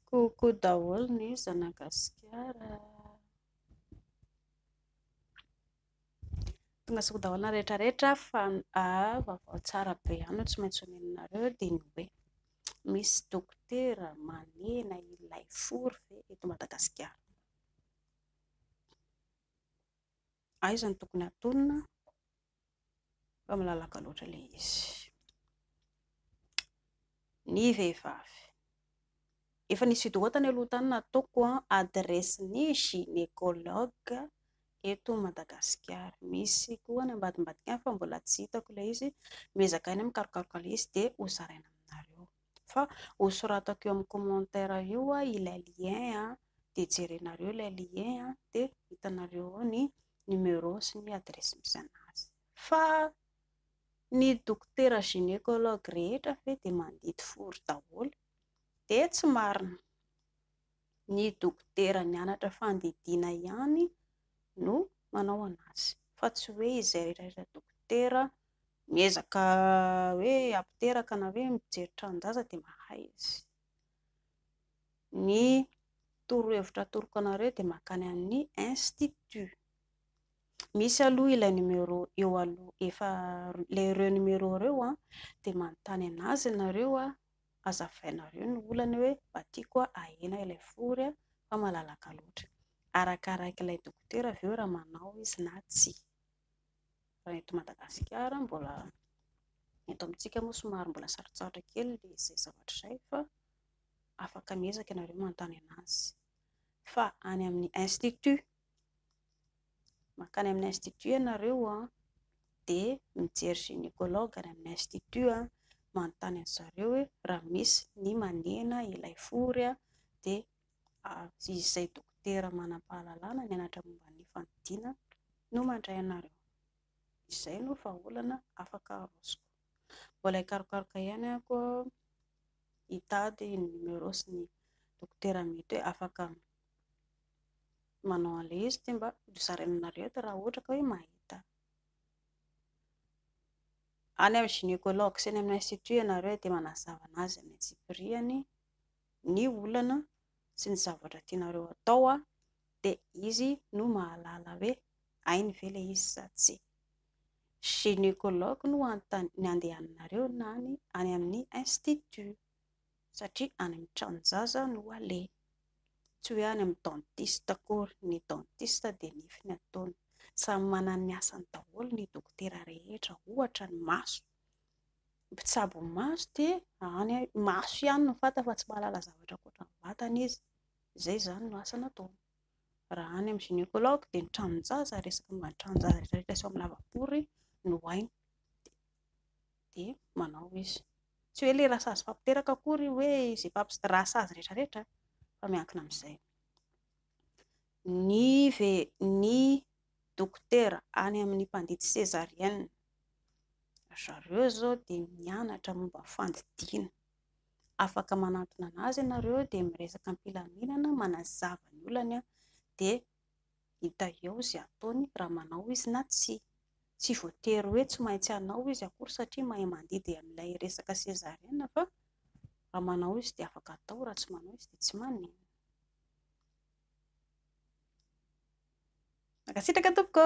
Koko daholo ny zanagasikara. Tongasoa daholo ny rehetra rehetra fa vaovao tsara be ihany no tsy maintsy omenareo dia ny hoe misy dokotera manena ilay fo ve eto Madagasikara? Aiza no tokony hatonina? fa malalaka loatra ilay izy. Ny vehivavy. Efa nisy vidéo tany aloha tany nataoko an, adresse ny gynécologue eto Madagasikara. Misy koa any ambadimbadika any fa mbola tsy hitako ilay izy. Miezaka ahy ny mikarokaroka ilay izy dia ho zaraina aminareo. Fa ho soratako eo amin'ny commentaire eo ilay lien a, dia jerenareo ilay lien a, dia hitanareo ao ny numéro sy ny adresse misy anazy. Fa ny dokotera gynécologue rehetra ve dia mandidy fory daholo? Dia tsy marina. Ny dokotera nianatra fandidiana ihany no manao anazy fa tsy hoe izay rehetra rehetra dokotera miezaka hoe apiteraka na hoe mijery tranonjaza dia mahay izy. Ny torohevitra atoroko anareo dia mankany amin'ny institut. Misy aloha ilay numéro eo aloha efa ilay ireo numéro ireo dia manontany anazy nareo azavainareo ny olany hoe mba tiako a ahena ilay fory a fa malalaka loatra arakaraik'ilay dokotera ve raha manao izy na tsia raha eto Madagasikara mbola eto amintsika moa somary mbola sarotsarotra kely le izay zavatra izay fa afaka miezaka ianareo manontany anazy fa any amin'ny institut Mankany amin'ny institut ianareo an, dia mijery gynécologue any amin'ny institut an, manontany an-dry zareo hoe raha misy ny manena ilay fory an, dia izay dokotera manam-pahalalana mianatra momba ny fanidina no mandray anareo. Izay no vahaolana afaka arosoko. Mbola hikarokaroka ihany ako hitady ny numéro sy ny dokotera mety hoe afaka. manao an'ilay izy dia mba hozaraina aminareo eto raha ohatra ka hoe mahita any amin'ny gynécologue sy any amin'ny institut ianareo dia manazava an'azy amin'ny antsipiriany ny olana sy ny zavatra tianareo atao aho dia izy no mahalala hoe hainy ve ilay izy sa tsia gynécologue no hanontaniana ny andehananareo na ny any amin'ny institut satria any amin'ny tranon-jaza no aleha, tsy hoe any amin'ny dentiste akory, ny dentiste dia nify ny ataony, samy manana ny asany daholo ny dokotera rehetra, ohatra ny maso, mpitsabo maso dia any maso ihany no fantany fa tsy mahalala zavatra ankoatra ny vatana izy, izay izany no asany ataony, raha any amin'ny gynécologue dia ny tranon-jaza, resaka momba ny tranon-jaza rehetra rehetra sy ao amin'ny lavabory no hainy. dia manao izy. Tsy hoe ilay rasazy fampiteraka akory hoe izay mpampisy rasazy rehetra rehetra fa miankina amin'izay. Ny ve ny dokotera any amin'ny mpandidy césarienne ry zareo izao dia mianatra momba ny fandidiana. Afaka manantona an'azy ianareo dia miresaka am-pilaminana manazava ny olany dia Hita eo izay ataony raha manao izy na tsia. Tsy voatery hoe tsy maintsy hanao izy akory satria mahay mandidy an'ilay resaka sezariana fa raha manao izy dia afaka atao, raha tsy manao izy dia tsy maninona. Mankasitraka tompoko.